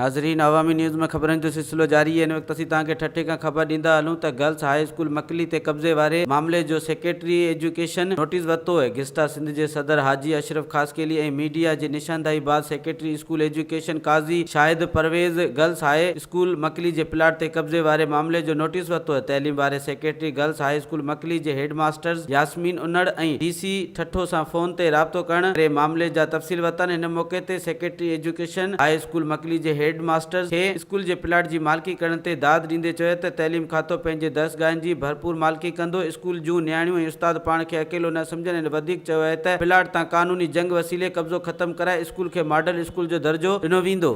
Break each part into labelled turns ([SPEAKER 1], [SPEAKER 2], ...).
[SPEAKER 1] ناظرين عوامي نيوز ۾ خبرن جو سلسلو جاري هن وقت اسين توهان کي ٺٽي کان خبر ڏيندا هلون ته گرلس هاء اسڪول مڪلي تي قبضي واري معاملي جو سيڪريٽري ايجوڪيشن نوٽيس ورتو اهي گسٽا سنڌ جي صدر حاجي اشرف خاصخيلي ۽ ميڊيا جي نشانداهي بعد secretary school education Qazi Shahid Pervez girls high school Makli جي پلاٽ تي قبضي واري معاملي جو نوٽيس ورتو اهي تعليم واري secretary girls high school Makli جي head masters Yasmin Anar ۽ D C Thatta سان فون تي رابطو ڪرڻ ڪري معاملي جا تفصيل ورتائن هن موقعي تي secretary education high school Makli جي هيڊ ماسٽرز کي اسڪول جي پلاٽ جي مالڪي ڪرڻ تي داد ڏيندي چيو ته تعليم کاتو پنهنجي درسگاهن جي ڀرپور مالڪي ڪندو اسڪول جون نياڻيون ۽ استاد پاڻ کي اڪيلو نه سمجهن هن وڌيڪ چيو اهي ته پلاٽ تان قانوني جنگ وسيلي قبضو ختم ڪرائي اسڪول کي ماڊل اسڪول جو درجو ڏنو ويندو.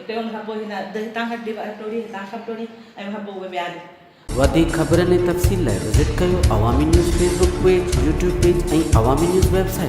[SPEAKER 2] اتي هو مهبو هن اڌ هتان کان ٽي وهه ٽوڙي هتان کان به ٽوڙي ۽ مهبو اهي ٻياري. وڌيڪ خبرن ۽
[SPEAKER 1] تفصيل لاء وزٽ ڪيو Awami News Facebook page, YouTube page ۽ Awami News web site.